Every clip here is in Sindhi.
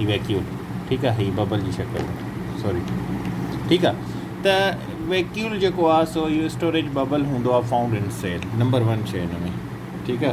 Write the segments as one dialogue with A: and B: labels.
A: هي ويڪيول ٺيڪ آ هي ببل جي شڪل سوري ٺيڪ آ ته ويڪيول جيڪو آ سو اهو اسٽوريج ببل هوندو آ فائونڊ ان سيل نمبر 1 شي هن ۾ ٺيڪ آ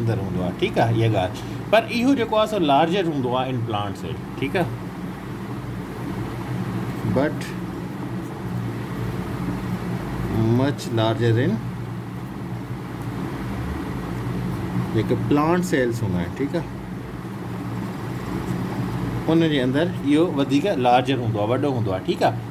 A: اندر هوندو آهي ٺيڪ آهي اها ڳالهه پر اهو جيڪو آهي سو لارجر هوندو آهي ان پلانٽ سيل ٺيڪ آهي بٽ مچ لارجر ان جيڪي پلانٽ سيلس هوندا آهن ٺيڪ آهي ان جي اندر اهو وڌيڪ لارجر هوندو آهي وڏو هوندو آهي ٺيڪ آهي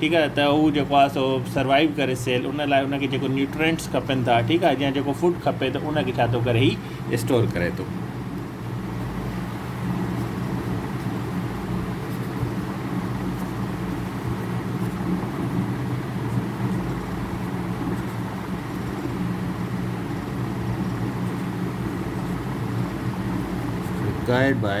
A: ٺيڪ آهي ته هو جيڪو آهي سو سروائيو ڪري سيل ان لاء ان کي جيڪو نيوٽرينٽس کپن ٿا ٺيڪ آهي جيئن جيڪو فوڊ کپي ته ان کي ڇا ٿو ڪري هي اسٽور ڪري ٿو. Guide by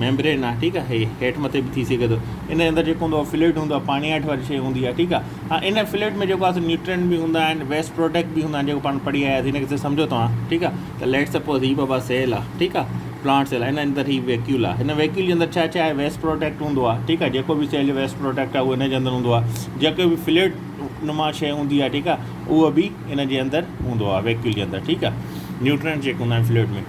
A: ميمبرين آهي ٺيڪ آ هي هيٺ مٿي به ٿي سگهي ٿو ان جي اندر جيڪو هوندو آهي فلوئڊ هوندو آهي پاڻي هيٺ واري شيء هوندي آهي ٺيڪ آ هاڻ ان فلوئڊ ۾ جيڪو آهي سو نيوٽرينٽ به هوندا آهن ويسٽ پروڊڪٽ به هوندا آهن جيڪو پاڻ پڙهي آياسين ان کي سي سمجهو توهان ٺيڪ آ ته ليٽ سپوز هي بابا سيل آ ٺيڪ آ پلانٽ سيل آ ان اندر هي ويڪيول آ هن ويڪيول جي اندر ڇا ڇا آهي ويسٽ پروڊڪٽ هوندو آ ٺيڪ آ جيڪو به سيل جو ويسٽ پروڊڪٽ آ اهو ان جي اندر هوندو آ جيڪو به فلوئڊ نما شيء هوندي آ ٺيڪ آ اهو به ان جي اندر هوندو آ ويڪيول جي اندر ٺيڪ آ نيوٽرينٽ جيڪي هوندا آهن فلوئڊ ۾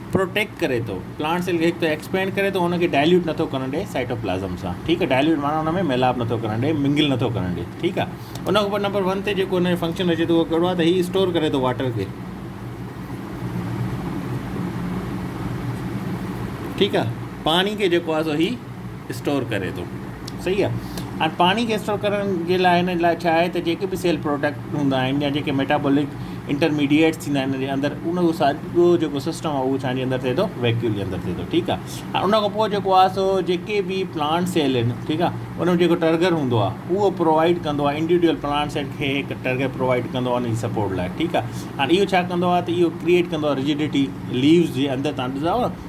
A: پروٽيڪٽ ڪري ٿو پلانٽ سيل کي هڪ ته ايڪسپينڊ ڪري ٿو ان کي ڊائليوٽ نٿو ڪرڻ ڏي سائٽوپلازم سان ٺيڪ آهي ڊائليوٽ معنيٰ ان ۾ ميلاپ نٿو ڪرڻ ڏي منگل نٿو ڪرڻ ڏي ٺيڪ آهي ان کان پوء نمبر ون تي جيڪو ان جو فنڪشن اچي ٿو اهو ڪهڙو آهي ته هي اسٽور ڪري ٿو واٽر کي ٺيڪ آهي پاڻي کي جيڪو آهي سو هي اسٽور ڪري ٿو صحيح آ ھاڻي پاڻي کي اسٽور ڪرڻ جي لاء ھن لاء ڇا آھي ته جيڪي به سيل پروڊڪٽ ھوندا آھن يا جيڪي ميٽابولڪ انٽرميڊيئيٽس ٿيندا آھن ھن جي اندر ان جو سڄو جيڪو سسٽم آ اھو ڇا جي اندر ٿئي ٿو ويڪيول جي اندر ٿئي ٿو ٺيڪ آ ھاڻي ان کان پوء جيڪو آ سو جيڪي به پلانٽ سيل ھن ٺيڪ آ ان جو جيڪو ٽرگر ھوندو آ اھو پرووائيڊ ڪندو آ انڊيوڊيول پلانٽ سيل کي ھڪ ٽرگر پرووائيڊ ڪندو آ ان جي سپورٽ لاء ٺيڪ آ ھاڻي اھو ڇا ڪندو آ ته اھو ڪريئيٽ ڪندو آ رجڊيٽي ليوز جي اندر تھان ڏسندا آھيو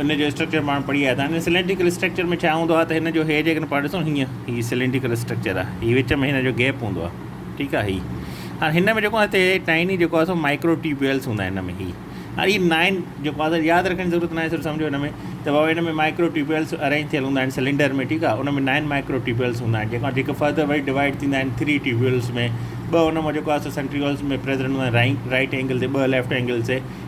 A: ان جو اسٽرڪچر پاڻ پڙهي آيا آهيون. هن سلينڊريڪل اسٽرڪچر ۾ ڇا هوندو آهي ته هن جو هي جيڪڏهن پاڻ ڏسون هيئن هي سلينڊريڪل اسٽرڪچر آهي هي وچ ۾ هن جو گيپ هوندو آهي ٺيڪ آهي هي هاڻ هن ۾ جيڪو هتي ٽائني جيڪو آهي سو مائڪرو ٽيوبويلس هوندا آهن هن ۾ هي هاڻ هي نائن جيڪو آهي سر ياد رکڻ جي ضرورت ناهي سر سمجھو هن ۾ ته بابا هن ۾ مائڪرو ٽيوبويلس ارينج ٿيل هوندا آهن سلينڊر ۾ ٺيڪ آهي ان ۾ نائن مائڪرو ٽيوبويلس هوندا آهن جيڪا جيڪي فردر وري ڊوائڊ ٿيندا آهن ٿري ٽيوبويلس ۾ ٻه هن مان جيڪو آهي سو سنٽريولس ۾ پريزنٽ هوندا آهن رائي رائٽ اينگل تي ٻه ليفٽ اينگل تي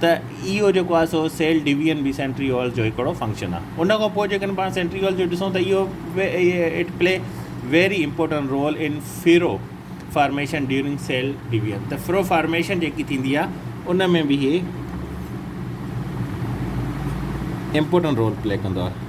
A: ته اهو جيڪو آهي سو سيل ڊويزن به سينٽريول جو هڪڙو فنڪشن آهي ان کان پوء جيڪڏهن پاڻ سينٽريول جو ڏسون ته اهو it play very important role in furrow formation during cell division ته فرو فارميشن جيڪي ٿيندي آهي ان ۾ به هي امپورٽنٽ رول پلي ڪندو آهي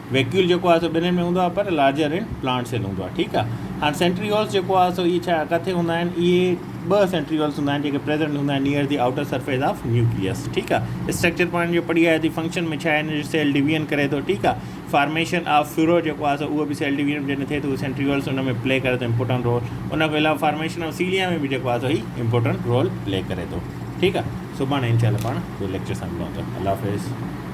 A: ويڪيول جيڪو آهي سو ٻنهين ۾ هوندو آهي پر لارجر ان پلانٽ سيل هوندو آهي ٺيڪ آهي هاڻ سينٽريولز جيڪو آهي سو اهي ڇا ڪٿي هوندا آهن اهي ٻه سينٽريولز هوندا آهن جيڪي پريزنٽ هوندا آهن near the outer surface of nucleus ٺيڪ آهي اسٽرڪچر پوائنٽ جو پڙهي آيا ٿي فنڪشن ۾ ڇا هن جو سيل ڊويجن ڪري ٿو ٺيڪ آهي فارميشن آف فيورو جيڪو آهي سو اهو به سيل ڊويجن جڏهن ٿئي ٿو سينٹريولز ان ۾ پلي ڪري ٿو امپورٽنٹ رول ان کان علاوه فارميشن آف سيليا ۾ به جيڪو آهي سو هي امپورٽنٹ رول پلي ڪري ٿو ٺيڪ آهي سڀاڻي انشاء الله پاڻ ٻيو ليڪچر سان ملون ٿا الله حافظ